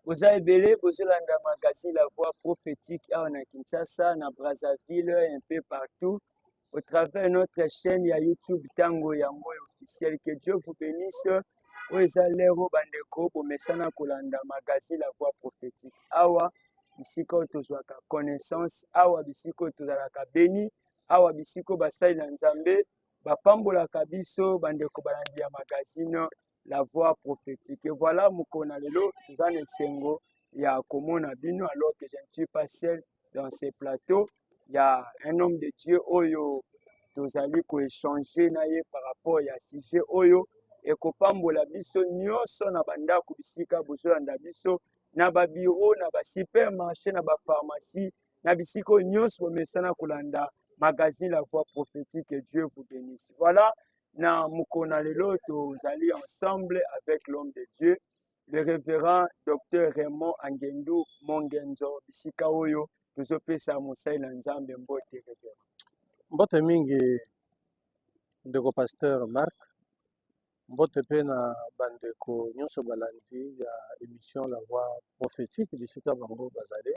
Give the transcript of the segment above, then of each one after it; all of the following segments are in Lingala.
boza ebele bozolanda magazine la voix prophétique awa na kinshasa na brazzaville un peu partout au travers notre chaîne ya youtube tango yango ya officiel que dieu vous bénisse oyo eza lero bandeko bomesana kolanda magazine la voix prophétique awa bisika oyo tozwaka connaissance awa bisika oyo tozalaka beni awa bisika oyo basali na nzambe bapambolaka biso bandeko balandi ya magazine la voix prophétique. Et voilà Mukona Lelo, toza na esengo ya komona bino alors que je ne suis pas seul dans ces plateaux. Il y a un homme de Dieu oyo tozali ko échanger na ye par rapport ya sujet oyo ekopambola biso nyonso na bandako bisika bozolanda biso na babiro na basupermarché na bapharmacie na bisika oyo nyonso bomesana kolanda magazine la voix prophétique et dieu vous bénisse voilà na mokolo na lelo tozali ensemble avec l'homme de dieu le révérend docteur raymond angendu mongenzo bisika oyo tozopesa mosali na nzambe mbote révérend mbote mingi ndeko pasteur marc Mbote pe na ba ndeko nionso balandi ya emission la voix prophetique bisika bango bazali.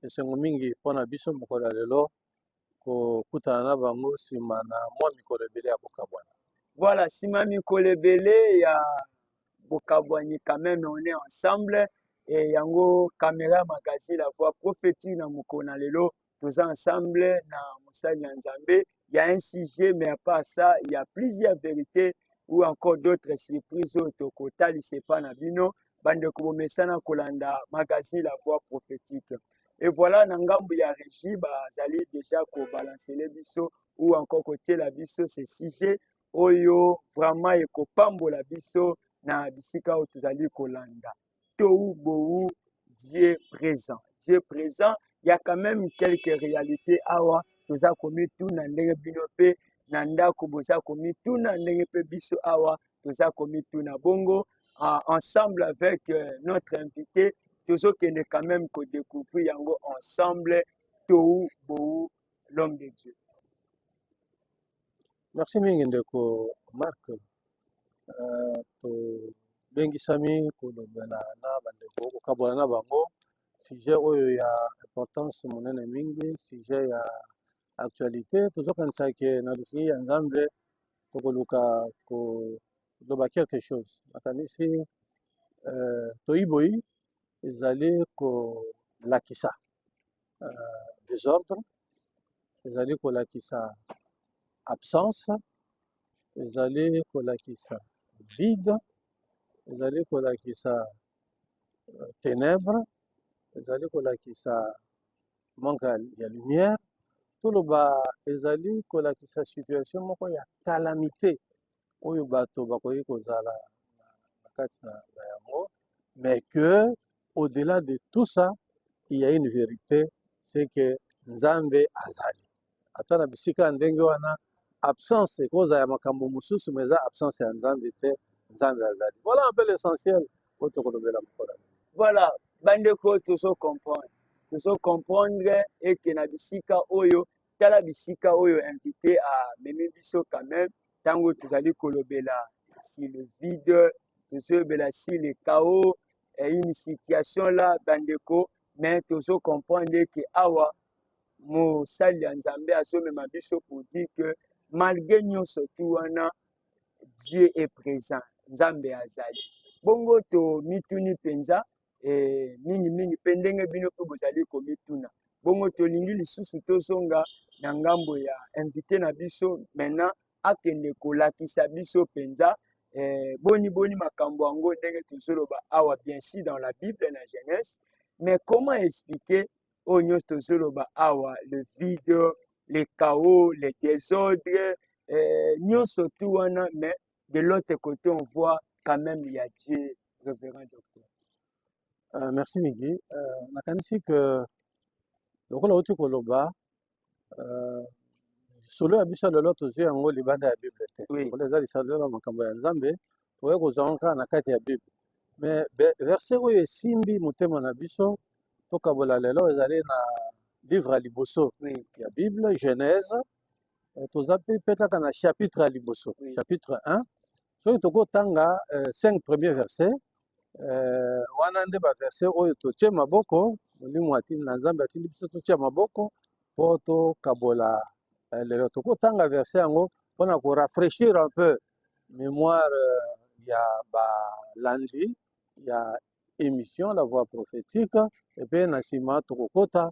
Esengo mingi pona biso mokolo ya lelo kokutana na bango sima na mwa mikolo ebele ya kokabwana. Voilà, sima mikolo ebele ya bokabwani quand même on est ensemble et yango camera magazine la voix prophetique na mokolo na lelo toza ensemble na mosali ya nzambe il y a un sujet mais à part ça il y a plusieurs vérités ou encore d'autres surprises oyo tokotalisa epai na bino bandeko bomesana kolanda magazine la voix prophétique et voilà na ngambo ya régie bazali déjà kobalancele biso ou encore kotiela biso ce sujet oyo vraiment ekopambola biso na bisika oyo tozali kolanda tôt ou beau Dieu présent Dieu présent il y a quand même quelques réalités awa toza komituna ndenge bino mpe na ndako boza komituna ndenge mpe biso awa toza komituna bongo ah, ensemble avec euh, notre invité tozokende quand même kodécouvrir yango ensemble tou bou l'homme de dieu Merci mingi ndeko Marc. Uh, tobengisami kolobela na bandeko kokabola na bango sujet oyo ya importance monene mingi, sujet ya actualité. Tozokanisa ke na lisili ya Nzambe tokoluka koloba quelque chose. Nakanisi uh, toyiboyi ezali kolakisa uh, desordre ezali kolakisa absence ezali kolakisa vide ezali kolakisa euh, ténèbre ezali kolakisa manque ya lumière toloba ezali kolakisa situation moko ya calamité oyo bato bakoki kozala na kati na yango mais que au-delà de tout ça il y a une vérité c'est que nzambe azali ata na bisika ya ndenge wana absence ekozala ya makambo mosusu mais eza absence ya nzambe te nzambe azali voilà un peu l'essentiel oyo tokolobela mokolo voilà bandeko tozo comprendre tozo comprendre eke na bisika oyo tala bisika oyo invité amemi biso quand même ntango tozali kolobela si le vide tozolobela si le chaos eh, une situation la bandeko mais tozo comprendre eke awa mosali ya nzambe azomema biso pour dire que malgré nyonso tu wana dieu est présent nzambe azali bongo tomituni mpenza eh, mingi mingi mpe ndenge bino mpe bozali komituna bongo tolingi lisusu tozonga na ngambo ya invité na biso maintenant akende kolakisa biso mpenza eh, boni boni makambo yango ndenge tozoloba awa bien sûr dans la bible na genèse mais comment expliquer oyo nyonso tozoloba awa le vide le chaos le désordre eh, nyonso tu wana mais de l'autre côté on voit quand même il y a Dieu révérend docteur euh, merci Migi euh, nakanisi que lokola outi koloba euh, solo ya biso lelo tozwi yango libanda ya bible te lokola eza lisalo ya makambo ya nzambe tokoki kozwa yango kaka na kati ya bible mais verse oyo esimbi motema na biso tokabola lelo ezali na livre ya liboso ya bible genèse Eh, toza mpe mpe kaka na chapitre ya liboso oui. chapitre 1 soki tokotanga euh, 5 premier verset euh, wana nde baverset oyo totie maboko molimo na nzambe atindi biso totia maboko mpo tokabola euh, lelo tokotanga verset yango mpo na korafraîchir un peu mémoire euh, ya balandi ya émission la voix prophétique epe na nsima tokokota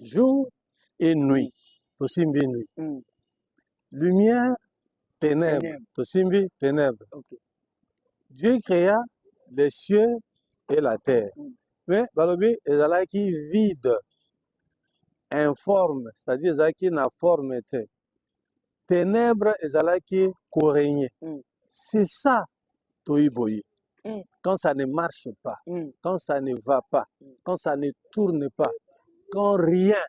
jour et nuit tosimbi nuit mm. lumière ténèbres tosimbi ténèbres okay. dieu créa les cieux et la terre mm. mais balobi ezalaki vide informe c'est-à-dire ezalaki na forme te ténèbres ezalaki koregne mm. c'est ça toyi boye mm. quand ça ne marche pas mm. quand ça ne va pas mm. quand ça ne tourne pas quand rien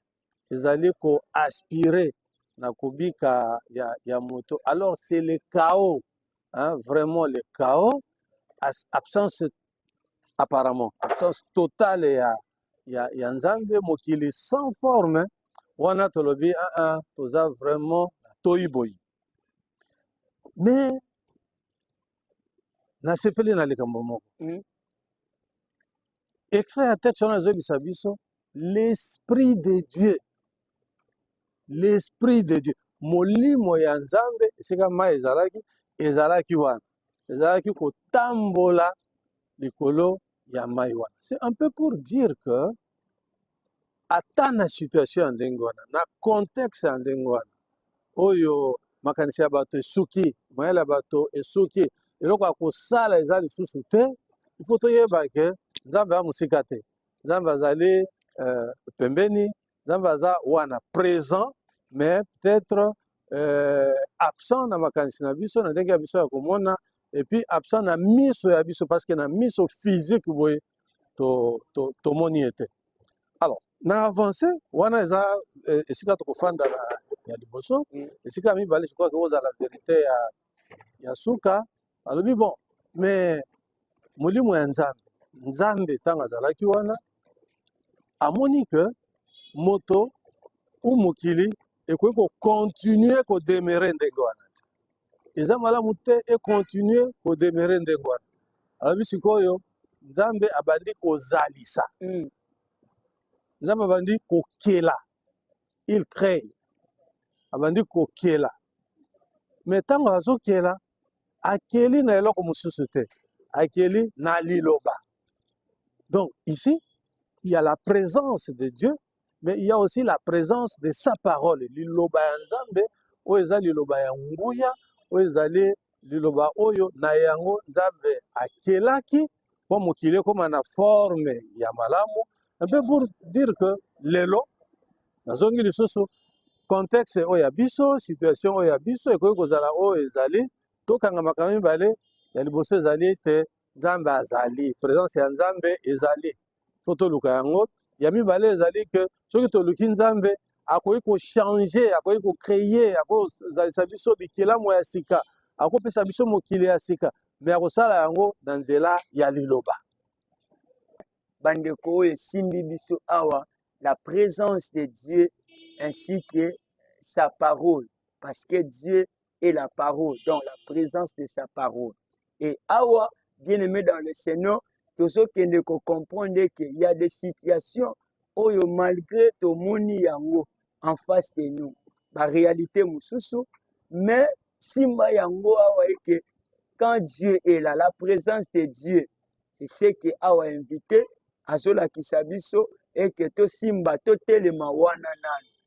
ezali koaspire na kobika ya, ya moto alors c'est le chaos hein, vraiment le chaos absence apparemment absence totale ya ya, ya nzambe mokili sans forme wana tolobi aa ah, ah, toza vraiment toyi boyi me nasepeli na likambo moko mm. extrait ya texte wana ezobisa biso l'esprit de dieu l'esprit de dieu molimo ya nzambe esika mai ezalaki ezalaki wana ezalaki kotambola likolo ya mai wana c'est un peu pour dire que ata na situation ya ndenge wana na contexte ya ndenge wana oyo makanisi ya bato esuki mayele ya bato esuki eloko ya kosala eza lisusu te ifo toyeba ke nzambe ya mosika te nzambe azali uh, pembeni nzambe aza wana présent mais peut-être euh, absent na makanisi na biso na ndenge ya biso ya komona epuis absent na miso ya biso parce que na miso physique boye tomoni to, to ye te alors na avance wana eza eh, esika tokofanda na ya liboso mm. esika ya mibale je crois ke ozala verité ya, ya suka alobi bon mais molimo ya nzambe nzambe ntango azalaki wana amoni ke moto u mokili ekoki kokontinue kodemere ndenge wana te eza malamu te ekontinue kodemere ndenge wana alobi sikoyo nzambe abandi kozalisa mm. nzambe abandi kokela il cree abandi kokela me ntango azokela akeli na eloko mosusu te akeli na liloba donc ici il y a la présence de dieu mais il y a aussi la présence de sa parole liloba ya nzambe oyo eza liloba ya nguya oyo ezali liloba oyo na yango nzambe akelaki mpo mokili ekoma na forme ya malamu mpe pour dire que lelo nazongi lisusu contexte oyo ya biso situation oyo ya biso ekoki kozala oyo ezali tokanga makambo mibale ya liboso ezali ete nzambe azali présence ya nzambe ezali fo toluka yango ya mibale ezali ke soki toluki nzambe akoki kochange akoki kocreye akozalisa biso bikelamu ya sika akopesa biso mokili ya sika me akosala yango na nzela ya liloba bandeko oyo esimbi biso awa la présence de dieu ainsi que sa parole parce que dieu et la parole, donc la présence de sa parole. Et awa, bien aimé dans le Seigneur, tozo kende ko comprendre qu'il y a des situations oyo malgré tomoni yango en face de nous, ba réalité mususu, mais simba yango awa eke quand Dieu est là, la présence de Dieu, c'est ce que awa invité azolakisa biso eke tosimba totelema wana nanu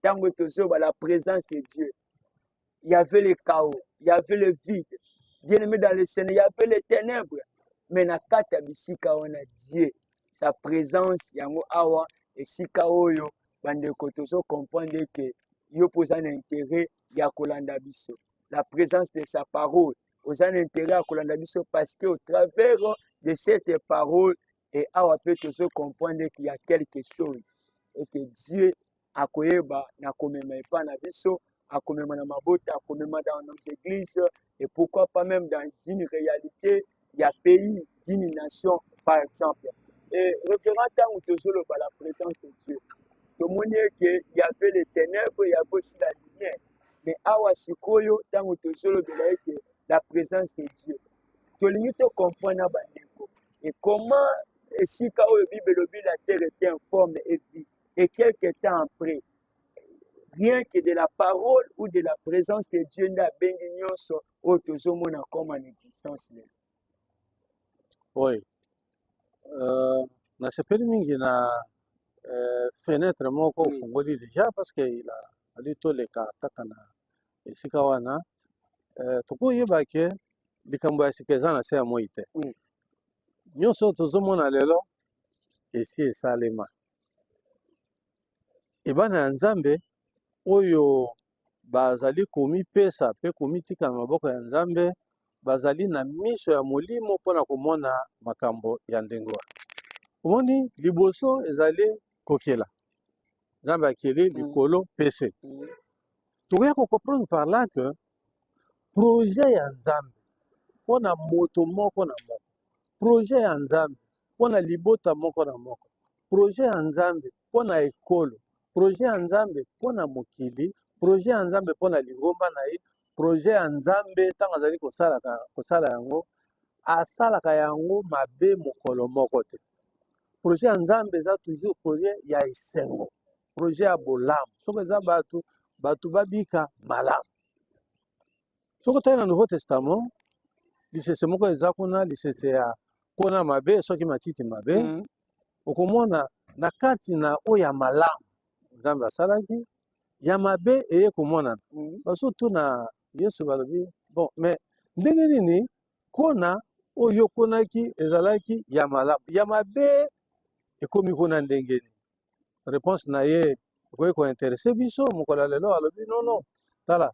ntango tozoba la présence de dieu il y avait le chaos il y avait le vide bien aimé dans le seigneur il y avait les ténèbres mais na kati ya bisika wana dieu sa présence yango awa esika oyo bandeko tozo comprendre eke yo mpo oza na intérêt ya kolanda biso la présence de sa parole oza na intérêt ya kolanda biso parce que au travers de cette parole e awa mpe tozo comprendre eke ya quelque chose eke dieu akoyeba na komema epa na biso akomema na mabota akomema dans nos églises et pourquoi pas même dans une réalité ya pays d'une nation par exemple et référent ntango tozoloba la présence de dieu tomoni eke yave le ténèbre yave aussi la lumière mais awa sikoyo ntango tozolobela eke la présence de dieu tolingi tocomprendre na bandeko et comment esika oyo bible elobi la terre est informe et vide et quelque temps après rien que de la parole ou de la présence de dieu nde abendi nyonso oyo tozomona comme en existence lelo oyo euh, nasepeli mingi na euh, fenêtre moko ofungoli oui. déjà parce que il a fallu toleka kaka na esika wana euh, tokoyeba ke likambo ya sika eza na se ya moi te oui. nyonso tozomona lelo esi esalema ebana ya Nzambe oyo bazali komipesa mpe komitika na maboko ya Nzambe bazali na miso ya molimo mpo na komona makambo ya ndenge wana. Omoni, liboso ezali kokela Nzambe akeli mm. likolo mpe se. Mm. Tokoya kokomprendre par là que projet ya Nzambe mpo na moto moko na moko, projet ya Nzambe mpo na libota moko na moko, projet ya Nzambe mpo na ekolo, projet ya Nzambe mpo na mokili, projet ya Nzambe mpo na lingomba na ye, projet ya Nzambe ntango azali kosalaka kosala yango, asalaka yango mabe mokolo moko te. Projet ya Nzambe eza toujours projet ya esengo, projet ya bolamu. Soki eza bato, bato babika malamu. soki otali na nouveau testament lisese moko eza kuna lisese ya kona mabe soki matiti mabe mm -hmm. okomona na kati na oyo ya malamu nzambe asalaki ya mabe eye komonana mm -hmm. basotuna yesu balobi bon mais ndenge nini kona oyo okonaki ezalaki ya malamu ya mabe ekomi kuna ndenge nini réponse na ye ekoki kointeresse biso mokolo ya lelo alobi nono tala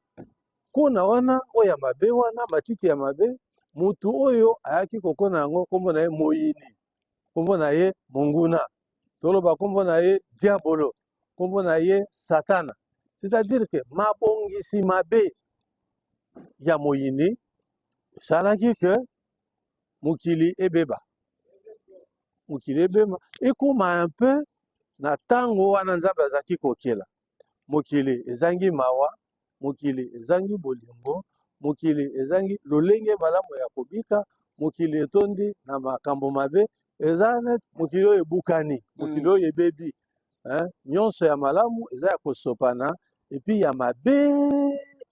nkona wana oyo ya mabe wana matiti ya mabe motu oyo ayaki kokona yango nkombo na ye moyini nkombo na ye monguna toloba nkombo na ye diabolo nkombo na ye satana c'est-à-dire ke mabongisi mabe ya moyini esalaki ke mokili ebeba mokili ebema ekoma un peu na ntango wana nzambe azalaki kokela mokili ezangi mawa mokili ezangi bolingo mokili ezangi lolenge malamu ya kobika mokili etondi na makambo mabe eza net mokili oyo ebukani mokili mm. oyo ebebi nyonso ya malamu eza ya kosopana epi ya mabe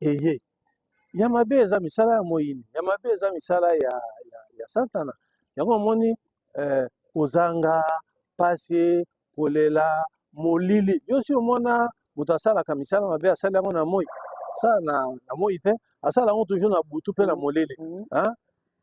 eye ya mabe eza misala ya moyini ya mabe eza misala ya, ya, ya satana yango omoni eh, kozanga pasi kolela molili yo si omona moto asalaka misala mabe asali yango na moi asala na, na moi te asala yango toujours na butu mpe na molili mm -hmm.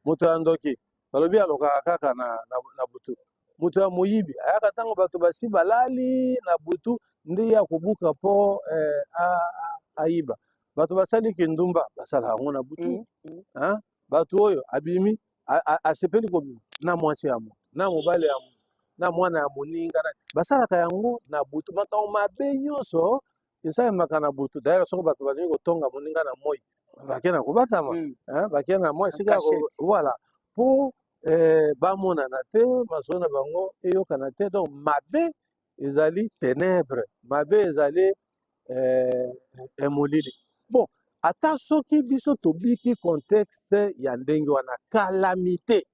moto ya ndoki balobi alokaka kaka na, na, na butu moto ya moyibi ayaka ntango bato basi balali na butu nde ye akobuka mpo eh, a- a- ayiba bato basali kindumba basala yango na butu Mm, mm. hein? bato oyo abimi a- a- asepeli kobima na mwasi ya moto na mobali ya moto na mwana ya moninga na- basalaka yango na butu makambo mabe nyonso eza emaka na butu dayela soko bato balingi kotonga moninga na moi bake na kobatama mm. eh, bake na moi esika voilà mpo eh, bamonana te masolo na bango eyokana te donc mabe ezali tenebre mabe ezali eh, emolili bon ata soki biso tobiki contexte ya ndenge wana kalamite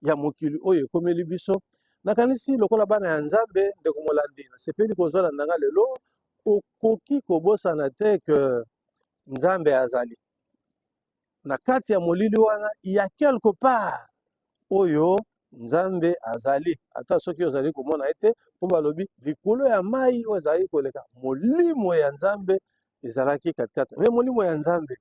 ya mokili oyo ekomeli biso nakanisi lokola bana ya nzambe ndeko molandi nasepeli kozwala na nga lelo okoki kobosana te ke nzambe azali na kati ya molili wana ya quelque part oyo nzambe azali ata soki ozali komona ye te mpo balobi likolo ya mai oyo ezali koleka molimo ya nzambe ezalaki katikati me molimo ya nzambe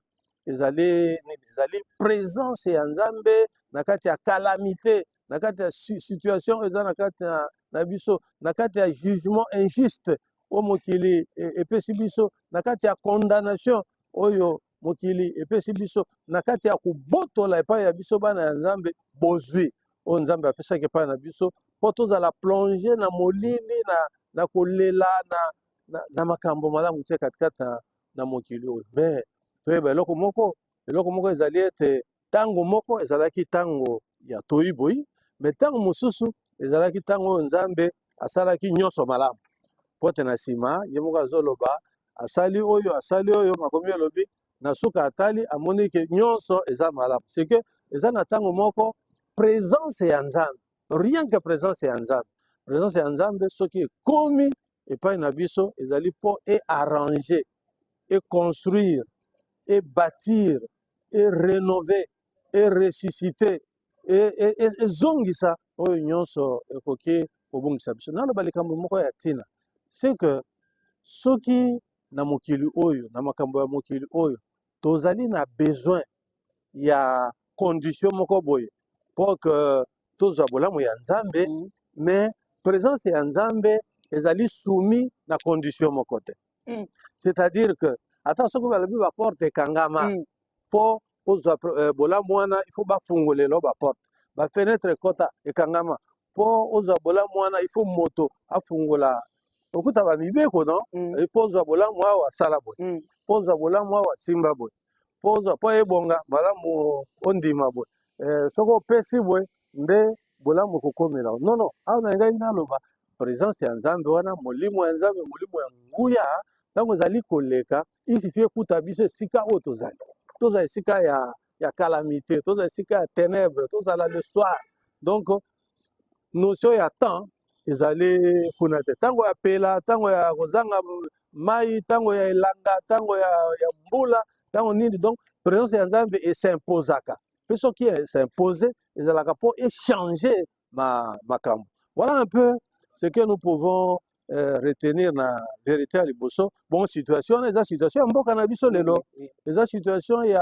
ezali nini ezali presence ya nzambe na kati ya calamité na kati ya situation eza na kati na, na biso na kati ya jugement injuste oyo mokili e, epesi biso na kati ya condamnation oyo mokili epesi biso na kati ya kobotola epai ya biso bana ya nzambe bozwi oyo nzambe apesaki epai na biso mpo tozala plonge na molili na, na kolela na, na, na makambo malamu te katikati na, na mokili oyo me toyeba eloko moko eloko moko ezali ete ntango moko ezalaki ntango ya toyi boyi me ntango mosusu ezalaki ntango oyo nzambe asalaki nyonso malamu mpo te na nsima ye moko azoloba asali oyo asali oyo makomi elobi na suka atali amoni ke nyonso eza malamu seke eza na ntango moko presence ya nzambe rien que presence ya nzambe presence ya nzambe soki ekomi epai na biso ezali mpo e arranger e construire e bâtir e renover e ressusciter ezongisa oyo nyonso ekoki kobungisa biso. Naloba likambo moko ya ntina c'est que soki na mokili oyo na makambo ya mokili oyo tozali na besoin ya condition moko boye pour que tozwa bolamu ya nzambe mm. mais présence ya nzambe ezali soumis na condition moko te mm. c'est-à-dire que ata soki balobi baporte ekangama mm. mpo ozwa euh, bolamu wana il faut bafungolelo baporte bafenetre ekota ekangama mpo ozwa bolamu wana il faut moto afungola okuta bamibeko no mm. mpo ozwa bolamu awa asala boye mpo ozwa bolamu awa simba boye mpo ozwa mpo ebonga malamu ondima boye eh, soki opesi boye nde bolamu ekokomela no no awa na ngai naloba présence ya nzambe wana molimo ya nzambe molimo ya nguya ntango ezali koleka isifi ekuta biso esika oyo tozali tozala esika ya ya calamité tozala esika ya ténèbre tozala le soir donc notion ya temps ezali kuna te ntango ya pela ntango ya kozanga mai ntango ya elanga ntango ya, ya mbula ntango nini donc présence ya nzambe esimposaka mpe soki esimpose ezalaka mpo echange makambo voilà un peu ce que nous pouvons Euh, retenir na verité ya liboso bon situation wana eza situation ya mboka na biso lelo eza situation ya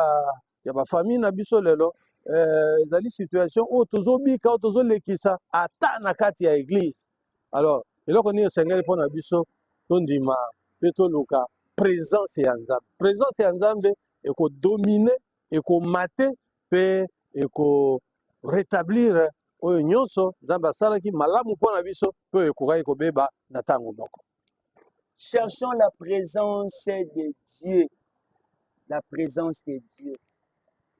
ya ba famille na biso lelo eh, ezali eh, situation oyo tozobika oyo tozolekisa ata na kati ya eglise alors eloko nini esengeli mpo na biso tondima mpe toluka presence ya nzambe presence ya nzambe ekodomine ekomate mpe eko rétablir oyo nyonso nzambe asalaki malamu mpo na biso mpe oyo ekokaki kobeba na ntango moko cherchons la présence de dieu la présence de dieu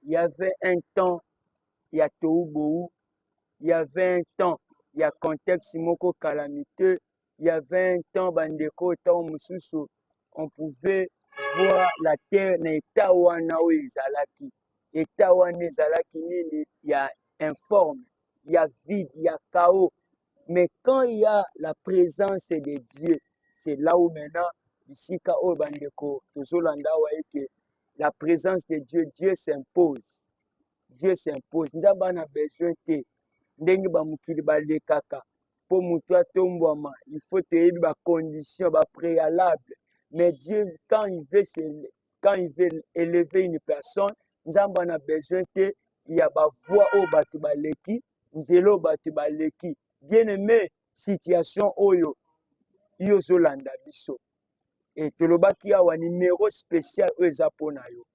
il y avait un temps ya tou bou il y avait un temps ya contexte moko calamiteux il y avait un temps bandeko ntango mosusu on pouvait voir la terre na etat wana oyo ezalaki etat wana ezalaki nini ya informe ya vide ya chaos mais quand il y a la présence de Dieu c'est là où maintenant bisika oyo bandeko tozolanda awa eke la présence de Dieu Dieu s'impose Dieu s'impose nzambe ana besoin te ndenge bamokili balekaka mpo motu atombwama il faut toyebi bacondition bapréalable mais Dieu quand il veut se, quand il veut élever une personne nzambe ana besoin te ya bavoi oyo bato baleki nzelo bato baleki bien aime situation oyo yo ozolanda biso e tolobaki awa nimero spécial oyo eza mpo na yo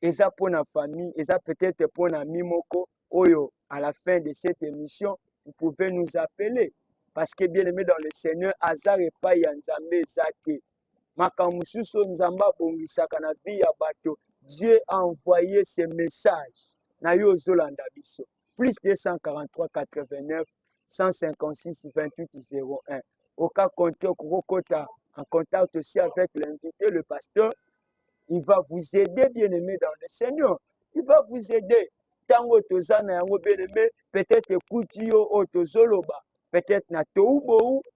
eza mpo na famille eza peut-être mpo na mi moko oyo à la fin de cette émission vous pouvez nous appeler parce que bien aimé dans le seigneur hasard epai ya nzambe eza te makambo mosusu oyo nzambe abongisaka na vie ya bato dieu a envoye ce message na yo ozolanda biso plus 243 89 156 28 01 oka compte okokota en contact aussi avec l'invité le pasteur il va vous aider bien aimé dans le seigneur il va vous aider ntango toza na yango bien aimé peut-être ekuti yo oyo tozoloba peut-être na toubou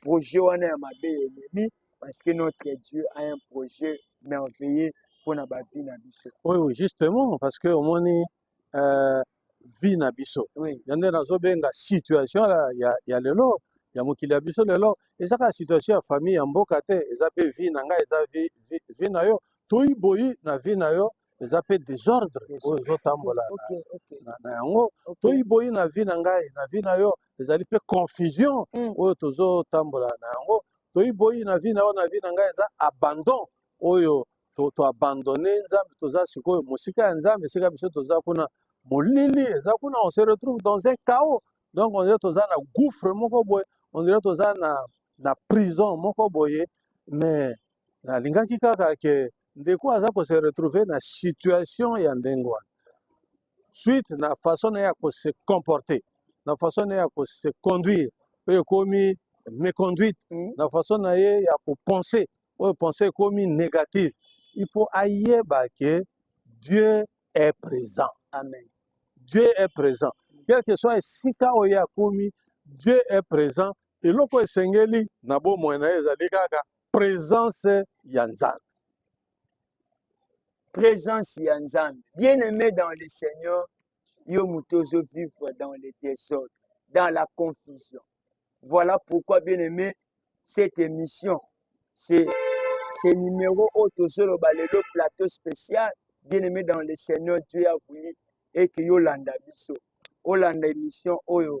projet wana ya mabe elemi parce que notre dieu a un projet merveilleux mpo na bavi na biso oui, oui, justement parce que omoni euh, vie na biso oui. yande nazobenga situation la, ya, ya lelo ya mokili ya biso lelo eza kaka situation ya famille ya mboka te eza mpe vie na ngai eza vie, vie, vie na yo toyi boyi na vie na yo eza mpe desordre oyo ezotambola na yango toyi boyi na vie na ngai na vie na yo ezali mpe confusion mm. oyo tozotambola na yango toyi boyi na vie na yo na vie na ngai eza abandon oyo toabandone to nzambe toza sikoyo mosika ya nzambe esika biso toza kuna molili eza kuna on se retrouve dans un chaos donc on dirait toza na gouffre moko boye on dirait toza na, na prison moko boye mais nalingaki kaka ke ndeko aza ko se retrouver na situation ya ndenge wana suite na façon na ye ya ko se comporter na façon na ye ya ko se conduire oyo ekomi méconduite mm. na façon na ye ya ko penser oyo penser ekomi négative il faut ayeba ke Dieu est présent amen Dieu est présent quel que soit esika oyo akomi Dieu est présent eloko esengeli na bomoi na ye ezali kaka presence ya nzambe presence ya nzambe bien aimé dans le seigneur yo moto ozo vivre dans le désordre dans la confusion voilà pourquoi bien aimé cette émission c'est ce numéro oyo tozoloba lelo plateau spécial bien aimé dans le seigneur dieu a voulu eke yolanda biso olanda émission oyo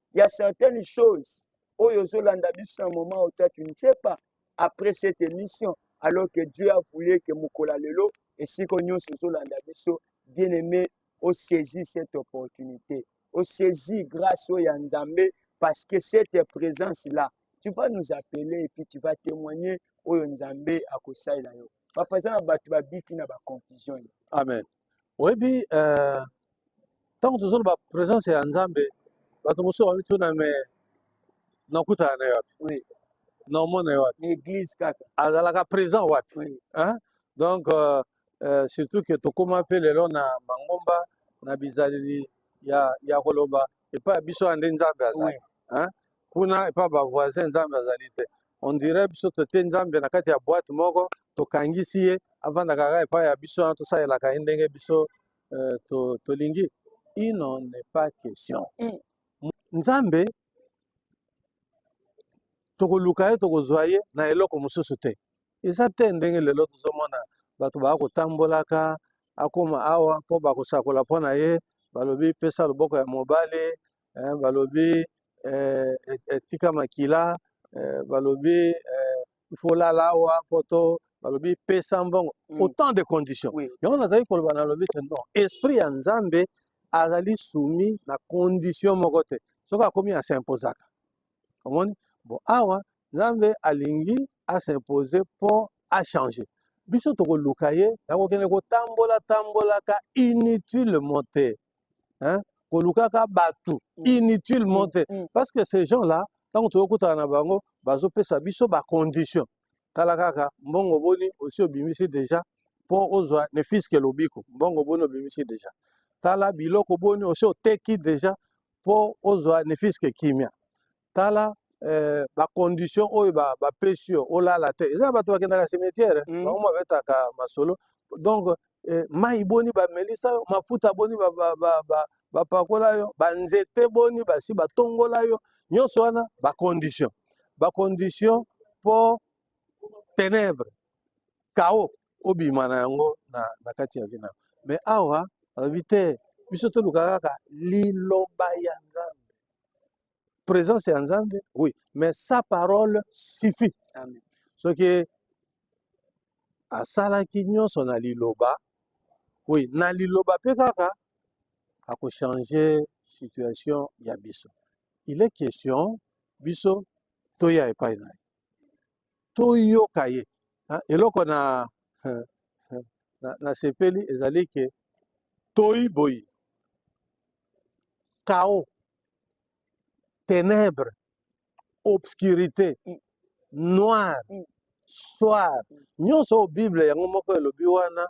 il y a certaines choses oyo ozolanda biso na moment oyo toi tu ne sais pas après cette émission alors que dieu a voulu que mokola lelo esiko nyonso ezolanda biso bien aimé osaisi cette opportunité osaisi grâce oyo ya nzambe parce que cette présence là tu vas nous appeler et puis tu vas témoigner oyo nzambe akosalela yo papa eza na bato babiki na baconfusion amen oyebi euh, ntango tozoloba présence ya nzambe bato mosusu bamituna me nakutana na yo wapi oui. naomona yo wapi église kaka azalaka présent wapi oui. hein? donc euh, euh, surtout ke tokóma mpe lelo na mangomba na bizaleli ya, ya koloba epai ya biso ya nde nzambe azali oui. hein? kuna epa ba voisin nzambe azali te on dirait biso totie nzambe na kati ya boite moko tokangisi ye avandaka kaka epai ya biso wana tosalelaka ye ndenge biso euh, to, tolingi il n'en est pas question Mm. nzambe tokoluka ye tokozwa ye na eloko mosusu te eza te ndenge lelo tozomona bato baya kotambolaka akoma awa mpo bakosakola mpo na ye balobi pesa loboko ya mobali hein, balobi eh, etika makila eh, balobi eh, folala awa poto balobi pesa mbongo mm. autant de conditions oui. yango nazali koloba nalobi te non esprit ya nzambe azali soumis na condition moko te soki akomi asimpozaka omoni bon awa nzambe alingi asimpose mpo achange biso tokoluka ye nakokende kotambola tambolaka inutilement te hein? kolukaka bato mm. inutilement mm, te mm. parce que ces gens là ntango tokokutana na bango bazopesa biso bacondition tala kaka mbongo boni osi obimisi deja mpo ozwa ne fiske lobiko mbongo boni obimisi deja tala biloko boni osi oteki deja mpo ozwa ne fiske kimia tala eh, bacondition oyo bapesi ba yo olala te eza bato bakendaka cimetière mm. bango babetaka masolo donc eh, mai boni bamelisa yo mafuta boni bapakola ba, ba, ba, ba yo banzete boni basi batongola yo nyonso wana bacondition bacondition mpo ténèbre kao obima na yango na, na kati ya vina mais awa alobi te biso toluka kaka liloba ya nzambe présence ya nzambe oui mais sa parole suffit soki asalaki nyonso na liloba oui na liloba mpe kaka akochange situation ya biso il est question biso toya epai na ye toyoka ye ah, eloko na nasepeli ezali ke toyi boyi kao ténèbres, obscurité, mm. noir, mm. soir. Mm. Nyonso oyo Bible yango moko elobi wana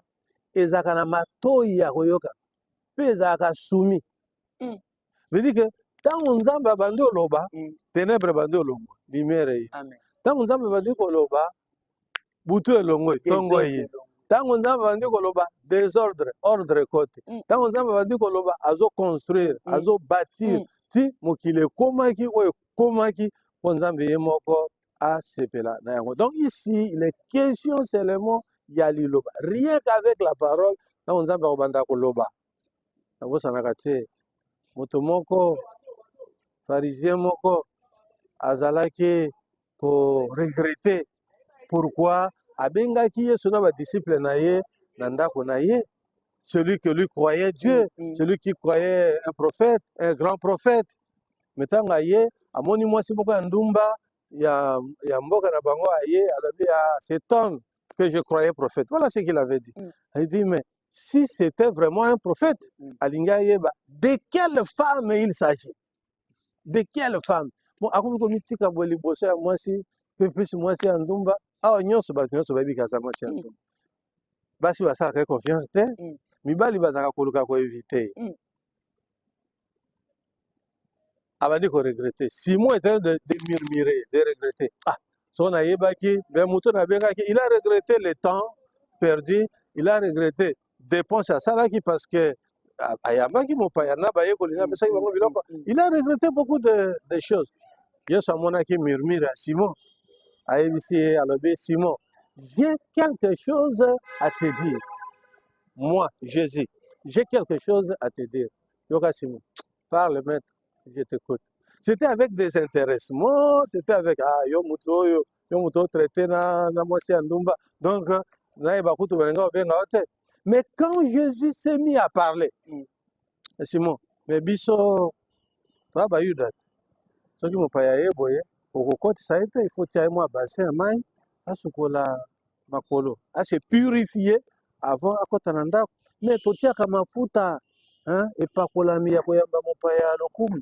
ezalaka na matoi ya koyoka mpe ezalaka sumi. Mm. Veut dire que ntango Nzambe abandi oloba, mm. ténèbres ebandi olongwa, lumière eye. Ntango Nzambe abandi koloba, butu elongwe tongo eye ntango nzambe abandi koloba desordre ordre ekote mm. ntango nzambe abandi koloba azoconstruire mm. azobatir mm. ti mokili ekomaki oyo ekomaki mpo nzambe ye moko asepela na yango donc ici il est question seulement ya liloba rien qu'avec la parole ntango nzambe akobanda koloba nabosanaka te moto moko farisien moko azalaki ko regretter pourquoi abengaki Yesu na ba disciples na ye na ndako na ye celui que lui croyait Dieu mm, mm. celui qui croyait un prophète un grand prophète mais ntango aye amoni mwasi moko ya ndumba ya, ya mboka na bango aye alobi ya ah, cet homme que je croyais prophète voilà ce qu'il avait dit mm. il dit mais si c'était vraiment un prophète mm. alingi ayeba de quelle femme il s'agit de quelle femme bon akomi komitika boye liboso ya mwasi mpe plus mwasi ya ndumba awa nyonso bato nyonso bayebi kaza mwasi ya ndumba basi basalaka ye confiance te Mm. mibali bazalaka koluka koevite Mm. abandi koregrete simon etant de, de murmure de regrete ah soko nayebaki me moto nabengaki il a regrete le temps perdu il a regrete depense asalaki parce que ayambaki mopaya na bayekoli na apesaki bango biloko il a regrette beaucoup de, de choses yesu amonaki murmure ya simon ayebisi ye alobi simon j'ai quelque chose à te dire moi jésus j'ai quelque chose à te dire yoka simon parle maître je t'écoute c'était avec des intéressements c'était avec ah yo moto oyo oh, yo moto otraite na, na mwasi ya ndumba donc nayeba kutu balinga obenga yo te mais quand jésus s'est mis à parler mm. Eh, simon mais biso toa bayuda te soki mopaya ye boye okokotisa ye te ifo tia ye mwa basin ya mai asukola makolo ase purifie avant akota na ndako mais totiaka mafuta hein, epakolami ya koyamba mopaya ya lokumu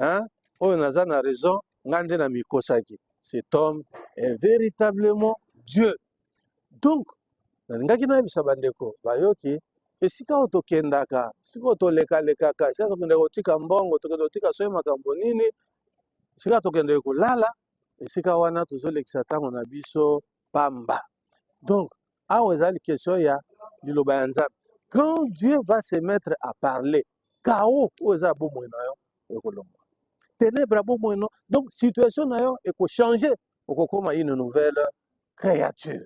hein oyo naza na raison ngai nde namikosaki cet homme est véritablement dieu donc nalingaki nayebisa bandeko bayoki esika oyo tokendaka esika oyo tolekalekaka esika tokendaka kotika mbongo tokende kotika soki makambo nini esika tokendeke kolala esika wana tozolekisa ntango na biso pamba donc awa ezali question ya liloba ya nzambe quand dieu va se mettre à parler kao oyo eza ya bomoi na yo ekolongwa tenebre ya bomoi no donc situation na yo ekochange okokoma une nouvelle créature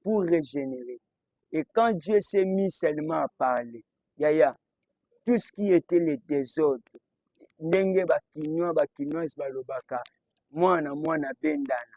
pour régénérer. Et quand Dieu s'est mis seulement à parler, yaya, tout ce qui était le désordre, ndenge bakinois, bakinoise balobaka, mwana mwana bendana,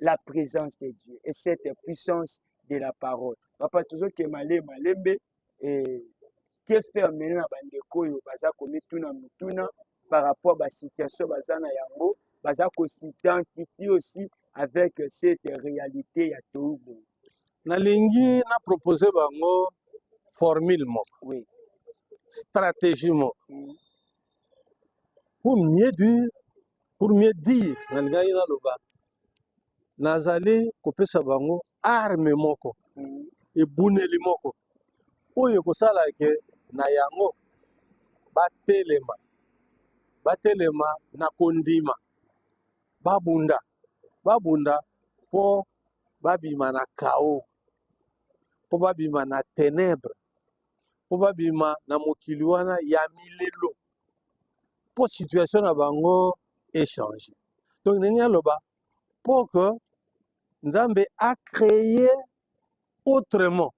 la présence de Dieu et cette puissance de la parole. Papa, toujours que malé, malembe, et que faire maintenant na bandeko oyo baza komituna mituna par rapport à la situation baza na yango, baza ko s'identifier aussi avec cette réalité ya Togo. nalingi na propose bango formule moko Oui. stratégie moko Mm. pour mieux dire pour mieux dire nalingaki naloba nazali kopesa bango arme moko mm. ebuneli moko oyo ekosala ke na yango batelema batelema na kondima babunda babunda mpo babima na kao mpo babima na tenebre mpo babima na mokili wana ya milelo mpo situation na bango echange donc ndenge aloba mpo que nzambe acreye autrement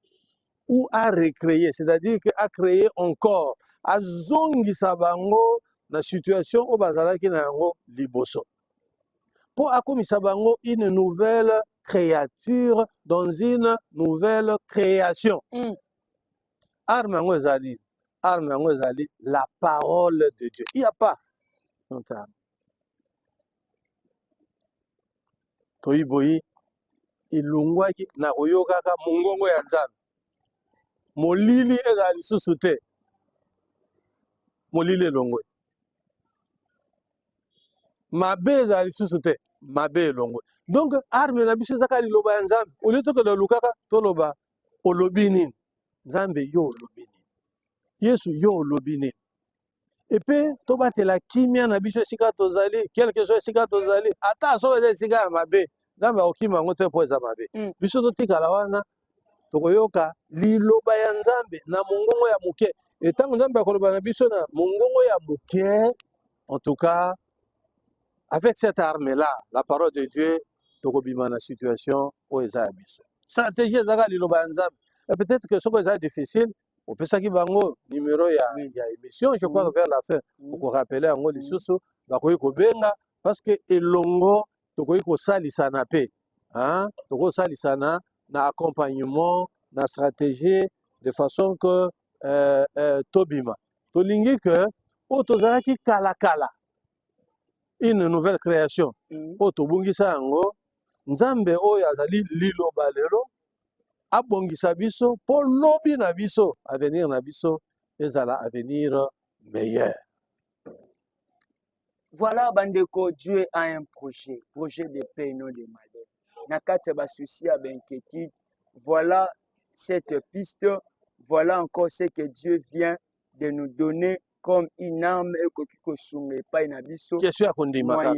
ou a recreye c'est-à-dire que acreye encore azongisa bango na situation oyo bazalaki na yango liboso mpo akomisa bango une nouvelle créature dans une nouvelle création mm. arme yango eza nini arme yango ezali la parole de dieu il y a pas notre arme toyi boyi elongwaki na koyokaka mongongo ya nzambe molili ezala lisusu te molili elongwe mabe ezala lisusu te mabe elongwe donc arme na biso ezaka liloba ya nzambe olie tokende olukaka toloba olobi nini nzambe yo olobi nini yesu yo olobi nini epe tobatela kimia na biso esika tozali quelque soit esika tozali ata soki eza esika ya mabe nzambe akokima yango te mpo eza mabe mm. biso totikala wana tokoyoka liloba ya nzambe na mongongo ya moke etango nzambe akoloba na biso na mongongo ya moke En tout cas, avec cette arme-là, la parole de Dieu, tokobima na situation oyo eza ya biso. Stratégie ezaka liloba ya Nzambe. Et peut-être que soko eza difficile, opesaki bango numéro ya, mm. ya émission, je crois mm. vers la fin, mm. okorapele yango mm. lisusu, bakoki kobenga, parce que elongo tokoki kosalisana mpe hein? tokosalisana na accompagnement na stratégie de façon que euh, euh, tobima tolingi que oyo tozalaki kala kala une nouvelle création mm. oyo tobungisa yango nzambe oyo azali liloba lelo abongisa biso mpo lobi na biso avenir na biso ezala avenir meilleur Voilà bandeko, Dieu a un projet, projet de paix non de malheur. Na kati ya ba soucis ya ba inquiétude, voilà cette piste, voilà encore ce que Dieu vient de nous donner comme une arme ekoki kosunga epai na biso. Question ya kondima kaka.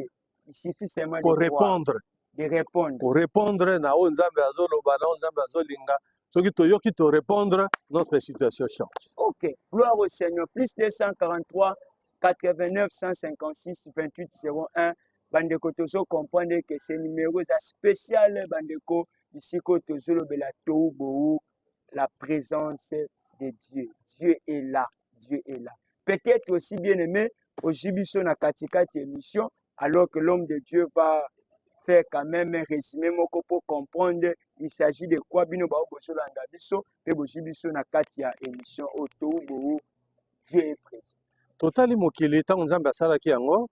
Il suffit seulement de croire. Ko répondre de répondre ko répondre na oyo nzambe azoloba na oyo nzambe azolinga soki toyoki to répondre notre situation change ok gloire au seigneur plus 243 89 156 28 01 bandeko tozo comprendre que ce numéro eza spécial bandeko bisika oyo tozolobela tou bou la présence de dieu dieu est là Dieu est là. Peut-être aussi bien aimé, ojibiso na katikati émission, alors que l'homme de Dieu va faire quand même un résumé moko pour comprendre il s'agit de quoi bino bao bozolanda biso mpe bozwi biso na kati ya émission oyo toubou Dieu est présent. Totali mokili ntango Nzambe asalaki yango,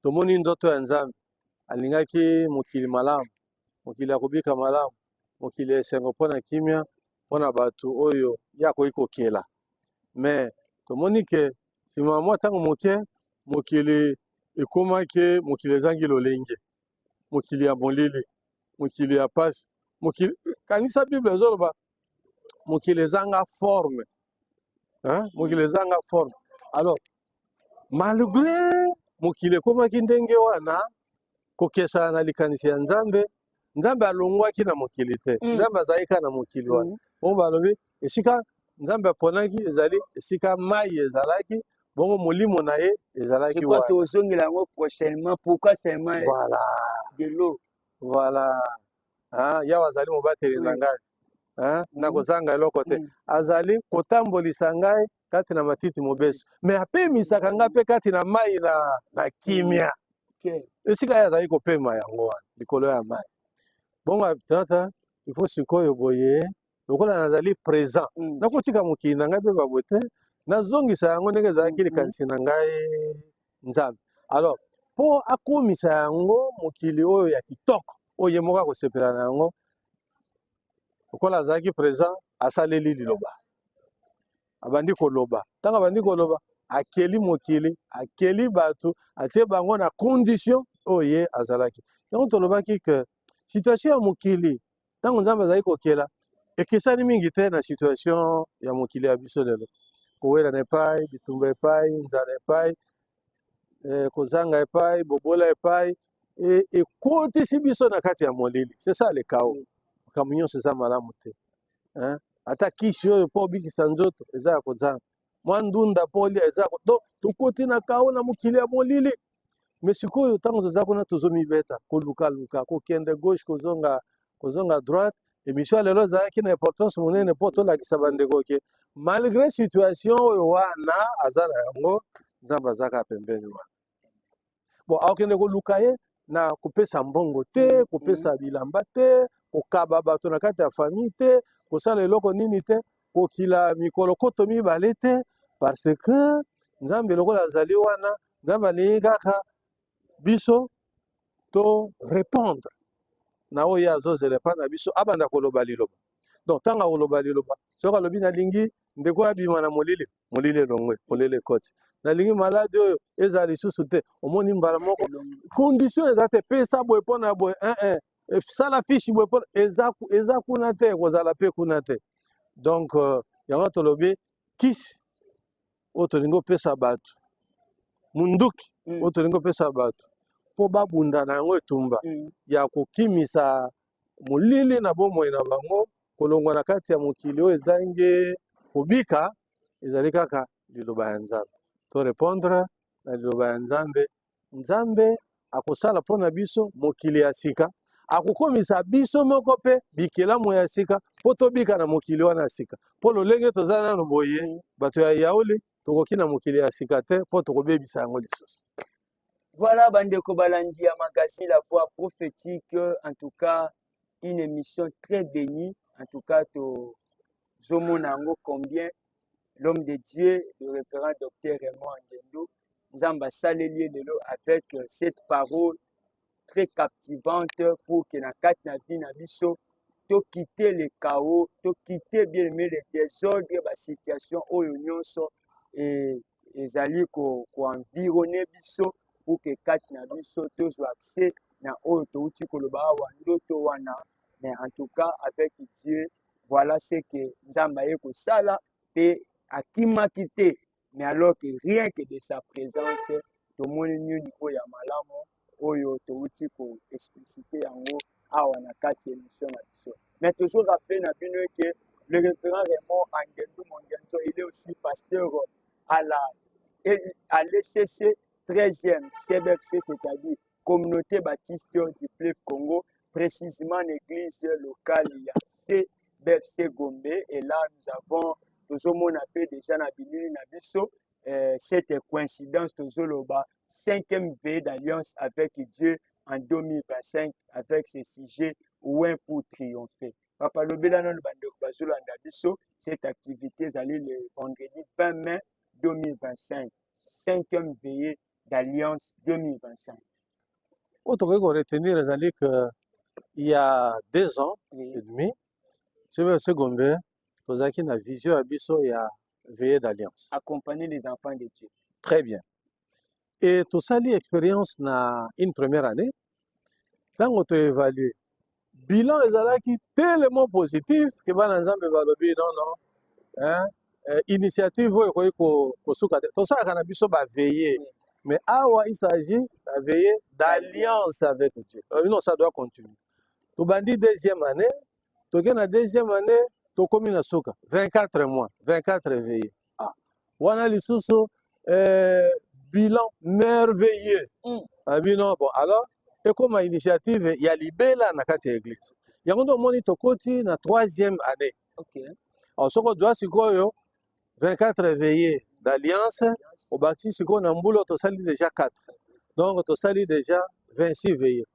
tomoni ndoto ya Nzambe, alingaki mokili malamu. mokili ya kobika malamu, mokili ya esengo mpo na kimia, mpo na bato oyo ye akoki kokela. Me tomoni ke nsima ya mwa ntango moke, mokili ekomaki mokili ezangi lolenge, mokili ya molili, mokili ya pasi, mokili kanisa Bible ezoloba mokili ezanga forme hein? mokili ezanga forme alors Malgre mokili ekomaki ndenge wana, kokesana na likanisi ya Nzambe, Nzambe alongwaki na mokili te. Mm. Nzambe azalaki kaka na mokili wana. Mm. Bongo balobi esika Nzambe aponaki ezali esika mai ezalaki, bongo molimo na ye ezalaki wana. Tozongela yango prochainement. Pourquoi seulement voilà. de l'eau? Voilà. Ah, yawa azali mobateli na ngai. Hein? Mm. Nakozanga eloko te. Mm. Azali kotambolisa ngai kati na matiti mobeso me apemisaka ngai mpe kati na mai na, na kimia esika ye azali kopema yango wana likolo ya mai bongo tata ifo sikoyo boye lokola nazali présent mm. nakotika mokili na ngai mpe baboye te nazongisa yango ndenge ezalaki mm-hmm. likanisi na ngai nzambe alors mpo akomisa yango mokili oyo ya kitoko oyo ye moko akosepela na yango lokola azalaki présent asaleli liloba abandi koloba ntango abandi koloba akeli mokili akeli bato atie bango na condition oyo ye azalaki yango tolobaki ke situation ya mokili ntango nzambe azali kokela ekesani mingi te na situation ya mokili ya biso lelo kowelana epai bitumba epai nzala epai eh, kozanga epai bobola epai e, ekotisi biso na kati ya molili c'est ça le chaos makambo nyonso eza malamu te hein? ata kisi oyo mpo obikisa nzoto eza ya kozanga mwa ndunda mpo olia eza ya ko- donc tokoti na chaos na mokili ya molili me sikoyo ntango toza kuna tozomibeta kolukaluka kokende gauche kozonga kozonga droite emission ya lelo ezalaki na importance monene mpo tolakisa bandeko ke malgré situation oyo wana aza na yango nzambe azaka pembeni wana bon akokende koluka ye na kopesa mbongo te mm-hmm. kopesa bilamba te kokaba bato na kati ya famille te kosala eloko nini te kokila mikolo koto mibale te parce que nzambe lokola azali wana nzambe alingi kaka biso to repondre na oyo ye azozela epai na biso abanda koloba liloba donc ntango akoloba liloba soki alobi nalingi ndeko oyo abima na molili molili elongwe molili ekoti nalingi maladi oyo ezala lisusu te omoni mbala moko condition eza te pesa boye mpo na boye eh, eh, eh, sala fishi boye mpo eza, eza kuna te ekozala mpe kuna te donc uh, yango tolobi kisi oyo tolingi opesa bato munduki mm. oyo tolingi opesa bato mpo babunda na yango etumba mm. ya kokimisa molili na bomoi na bango kolongwa na kati ya mokili oyo ezangi kobika ezali kaka liloba ya nzambe to repondre na liloba ya nzambe Nzambe akosala mpo na biso mokili ya sika, akokomisa biso moko mpe bikelamu ya sika mpo tobika na mokili wana ya sika. Mpo lolenge toza nano boye, bato ya yauli tokoki na mokili ya sika te mpo tokobebisa yango lisusu. Voilà bandeko balandi ya magazine La Voix Prophétique, en tout cas une émission très bénie en tout cas tozomona yango combien l'homme de dieu le référent docteur raymond angendo nzambe asaleli ye lelo avec euh, cette parole très captivante pour que na kati na vie na biso tokite le chaos tokite bien aimé le désordre basituation oyo nyonso et ezali koenvirone ko biso pour que kati na biso tozwa accès na oyo touti koloba awa ndoto wana mais en tout cas avec dieu voilà ce que nzambe aye kosala mpe akimaki te mais alors que rien que de sa présence tomoni nini oyo ya malamu oyo towuti ko explicite yango awa na kati ya emission na biso mais tozo rappeler na bino eke le référent Raymond Angendu Mongenzo il est aussi pasteur à la à l'ECC 13e CBFC c'est-à-dire communauté baptiste du fleuve Congo précisément l'église locale ya CBFC Gombe et là nous avons tozomona mpe deja na bilili na biso euh, cette coïncidence tozoloba cinquième veillée d'alliance avec Dieu en 2025 avec ce sujet Ouen pour triompher. Papa lobela nanu bandeko bazolanda biso cette activité ezali le vendredi 20 mai 2025 cinquième veillée d'alliance 2025. Oyo tokoki koretenir ezali que il y a deux ans oui. et demi, Sebe Segombe tozalaki na vision ya biso ya veille d'alliance accompagner les enfants de dieu très bien et tosali expérience na une première année ntango toévalue bilan ezalaki tellement positif ke bana nzambe balobi non non hein, euh, initiative oyo ekoki kosuka te tosalaka na biso baveille mais awa il s'agit baveille d'alliance avec dieu euh, non ça doit continuer tobandi deuxième année toke na deuxième année tokomi na suka 24 mois 24 veille ah wana lisusu eh, bilan merveilleux mm. abino ah, bon alors ekoma initiative ya libela na kati ya eglise yango nde omoni tokoti na troisième année okay. alors soki ozwa sikoyo 24 veille d'alliance obakisi sikoyo na mbula tosali déjà 4 donc tosali déjà 26 veille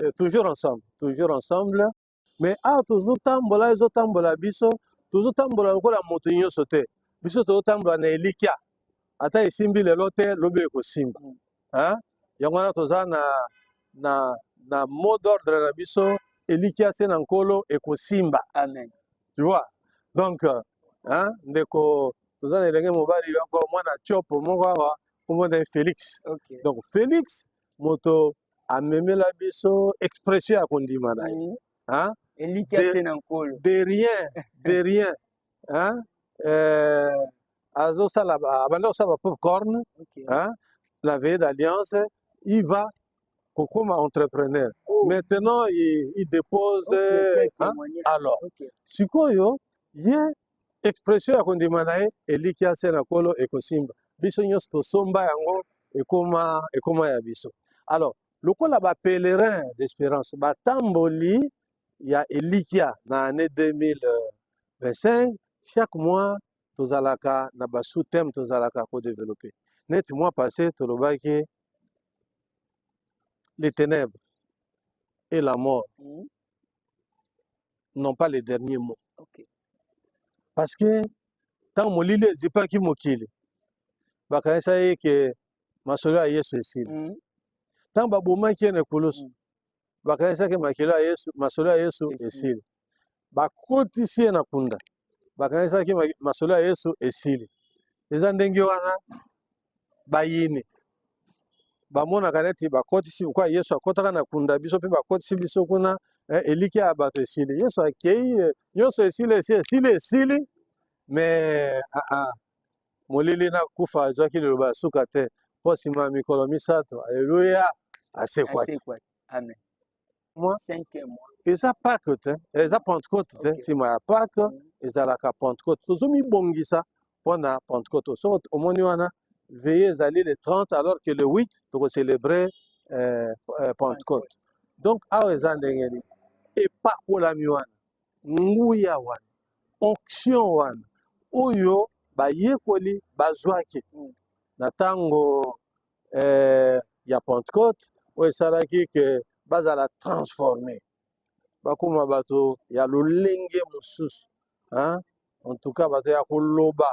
Eh, toujours ensemble toujours ensemble mais awa tozotambola ezotambola biso tozotambola lokola moto nyonso te biso tozotambola na elikya ata esimbi lelo te lobi ekosimba Mm. Hein? yango wana toza na, na, na mot d'ordre na biso elikya se na nkolo ekosimba Amen. tu vois donc euh, hein, ndeko toza na elenge mobali yoko mwana tiopo moko awa kombo na ye félix Okay. donc félix moto amemela biso expression ya kondima na ye hein? elikya se na nkolo de rien de rien hein? euh, azosala abanda kosala ba popcorn okay. hein? la veille d'alliance il va kokoma entrepreneur oh. maintenant il, il dépose okay, hein? alors okay. sikoyo ye expression ya kondima na ye elikya se na kolo ekosimba biso nyonso tosomba yango ekoma ekoma ya biso alors lokola ba pèlerin d'espérance batamboli ya elikya na année 2025 chaque mois tozalaka na ba sous thème tozalaka ko développer neti mois passé tolobaki les ténèbres et la mort mm. n'ont pas le dernier mot okay. parce que ntango molili ezipaki mokili bakanisa ye ke masolo ya yesu esili mm. ntango babomaki ye na ekulusu mm. bakanisaki makilo ya yesu masolo ya yesu esili bakotisi ye na kunda bakanisaki masolo ya Yesu esili. Eza ndenge wana bayini bamonaka neti bakotisi kwa Yesu akotaka na kunda biso mpe bakotisi biso kuna eh, elikya ya bato esili. Yesu akei eh, nyonso esili esi esili esili me ah, ah, molili na kufa azwaki liloba ya suka te mpo nsima ya mikolo misato aleluya asekwaki. Amen. mois cinquième mois eza pake te eh, eza pentecote te okay. nsima ya pake mm. ezalaka pentecote tozomibongisa mpo na pentecote soko omoni wana veye ezali le 30 alors que le 8 tokocelebre eh, eh, pentecote donc awa eza ndenge nini epakolami wana nguya wana onction wana oyo bayekoli bazwaki mm. na ntango eh, ya Pentecôte oyo esalaki ke bazala transforme bakoma bato ya lolenge mosusu en tout cas bato ya koloba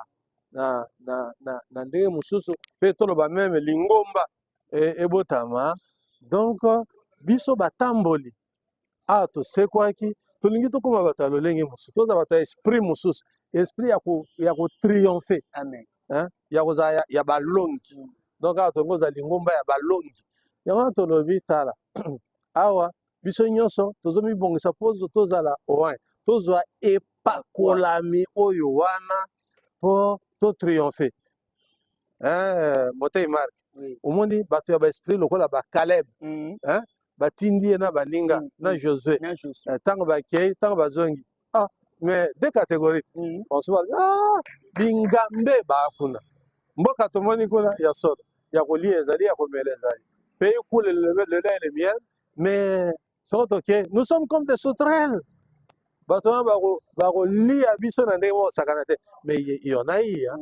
na, na, na, na ndenge mosusu mpe toloba meme lingomba e, ebotama donc biso batamboli awa tosekwaki tolingi tokoma bato ya lolenge mosusu toza bato ya esprit mosusu esprit ya kotriomphe ya kozala ya balongi mm. donc awa tongo ozala lingomba ya balongi yango wana tolobi tala awa biso nyonso tozomibongisa mpo tozala oin tozwa epakolami oyo wana mpo totriomphe eh, motei mark omoni bato ya baesprit lokola bacaleb mm. eh, batindi ye na baninga mm, na mm. josue ntango eh, bakei ntango bazongi ah, mais de catégorie banso ba ah, bingambe baa kuna mboka tomoni kuna ya solo ya kolia ezali ya komela ezali pays kule lelai le miel mais soko toke nous sommes comme des sauterelles bato wana bakolia biso na ndenge moko sakana te mais yona iya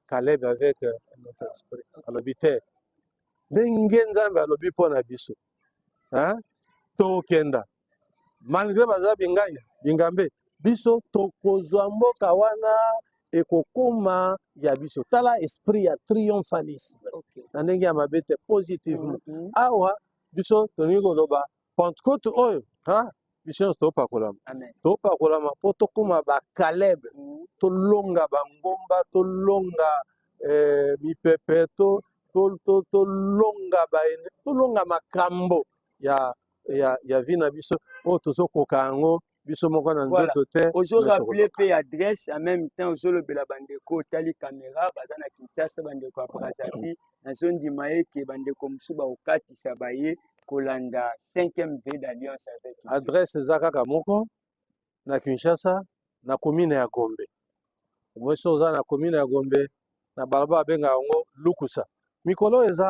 caleb avec euh, notre esprit alobi te ndenge nzambe alobi mpo na biso tokenda malgre baza binganya bingambe biso tokozwa mboka wana ekokoma ya biso tala esprit ya triomphalisme okay. na ndenge ya mabe te positivement mm -hmm. awa biso tolingi koloba pentecote oyo ha biso nyonso topakolama topakolama mpo tokóma bakaleb mm. tolonga bangomba tolonga eh, mipepe to tolonga baene tolonga makambo ya ya ya vi na biso oyo tozokoka yango biso moko na nzoto te ozo rappeler pe adresse en même temps ozo lobela bandeko otali camera baza na Kinshasa bandeko ya Brazzaville nazo ndima ye ke bandeko mosusu bakokatisa baye kolanda 5e V d'alliance avec adresse eza kaka moko na Kinshasa na commune ya Gombe omoi so oza na commune ya Gombe na balabala abenga yango Lukusa mikolo eza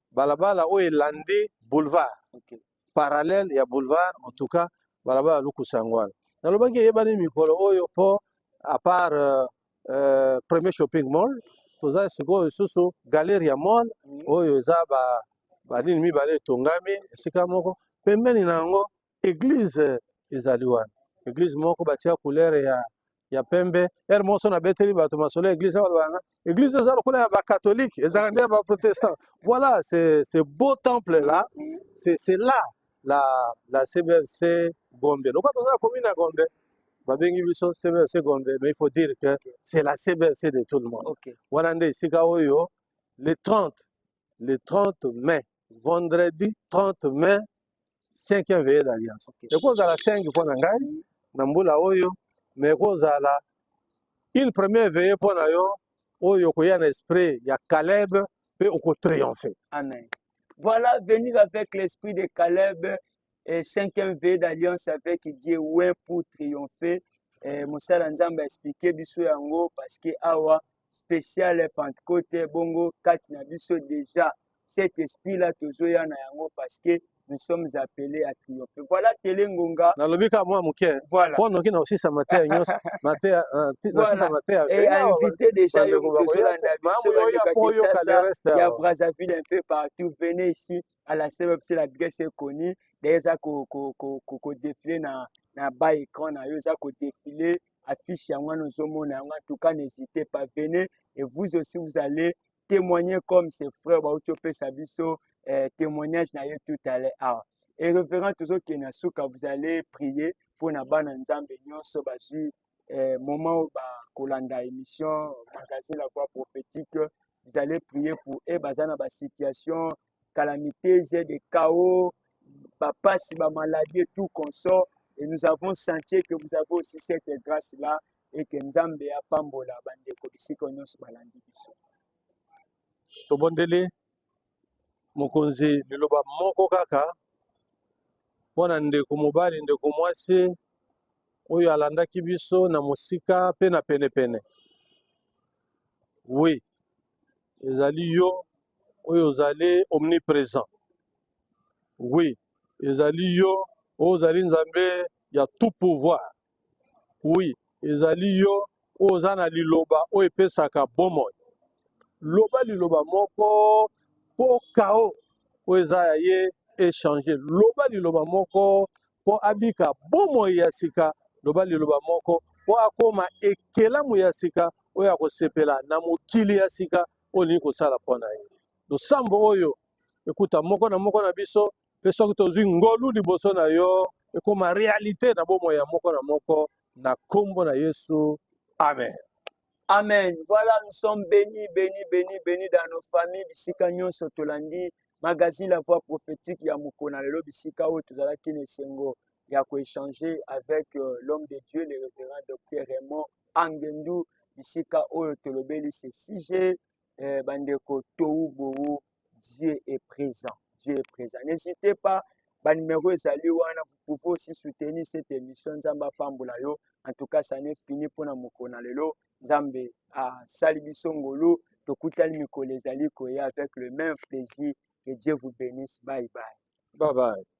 balabala oyo elandi boulevard okay. parallèle ya boulevard en tout cas balabala lukusa yango wana nalobaki eyebani mikolo oyo mpo à part euh, euh, premier shopping mall toza sikoyo lisusu galeria mall mm. oyo eza banini mibale etongami esika moko pembeni na yango Eglise ezali wana, eglise moko batia couleur ya ya pembe. Heure moso na beteli bato masolo ya eglise wana banga. Eglise eza lokola ya ba catholique, ezalaka nde ya ba protestant. Voilà, c'est ce beau temple là, c'est c'est là la la CBFC Gombe. Lokola toza commune ya Gombe, babengi biso CBFC Gombe, mais il faut dire que c'est la CBFC de tout le monde. Okay. Wana nde esika oyo le 30 le 30 mai vendredi 30 mai cinquième veille d'alliance ekozala 5 mpo na ngai na mbula oyo mais ekozala une première veille mpo na yo oyo okoya na esprit ya Caleb mpe okotriomphe amen voilà venir avec l'esprit de Caleb et cinquième veille d'alliance avec Dieu ouais pour triompher eh, mosala nzambe aexplike biso yango parce que awa special pentecote bongo kati na biso deja cet esprit là tozoya na yango parce que nous sommes appelés à triompher voilà tele ngonga nalobi ka mwa moke voilà mpo noki na kosisa mateya nyonso mateya nasisa mateya et invité déjà yo moto ozolanda biso bandeko ya brazzaville un peu partout venez ici à la cbe parce que l'adresse est connue deja ko ko ko ko ko défiler na na bas écran na yo eza ko défiler affiche yango wana ozomona yango antuka n'hésite pas venez et vous aussi vous allez témoigner comme ses frères bauti opesa biso eh, témoignage na ye tout à l'heure awa et révérend tozokende na suka vous allez prier mpo na bana nzambe nyonso bazwi eh, moment oyo bakolanda émission magazine la voix prophétique vous allez prier pour e baza na basituation calamiteuse des chaos bapasi bamaladi et tout consort et nous avons senti que vous avez aussi cette grâce là et que nzambe apambola bandeko bisika nyonso balandi biso tobondeli mokonzi liloba moko kaka mpo na ndeko mobali ndeko mwasi oyo alandaki biso na mosika mpe na penepene wi ezali yo oyo ozali omnipresent oui ezali yo oyo ozali nzambe ya tout pouvoir oui ezali yo oyo oza na liloba oyo epesaka bomoi loba liloba moko mpo kao oyo eza ya ye echange loba liloba moko mpo abika bomoi ya sika, loba liloba moko, mpo akoma ekelamu ya sika oyo akosepela na mokili ya sika oyo olingi kosala mpo na ye. Losambo oyo ekuta moko na moko na biso, mpe soki tozwi ngolu liboso na yo, ekoma realite na bomoi ya moko na moko, na nkombo na Yesu, amen. Amen. Voilà, nous sommes bénis, bénis, bénis, bénis dans nos familles. Bisika nyonso tolandi magazine La Voix prophétique ya mokona lelo bisika oyo tozalaki na esengo ya koéchanger avec euh, l'homme de Dieu, le révérend docteur Raymond Angendu. Bisika oyo tolobeli ce sujet eh, bandeko towu bowu Dieu est présent. Dieu est présent. N'hésitez pas, ba numéro ezali wana, vous pouvez aussi soutenir cette émission. Nzambe apambola yo. En tout cas, ça n'est fini pour na mokona lelo. Nzambe a sali biso ngolu. Tokutani mikolo ezali koya avec le même plaisir. Que Dieu vous bénisse. Bye bye. Bye bye.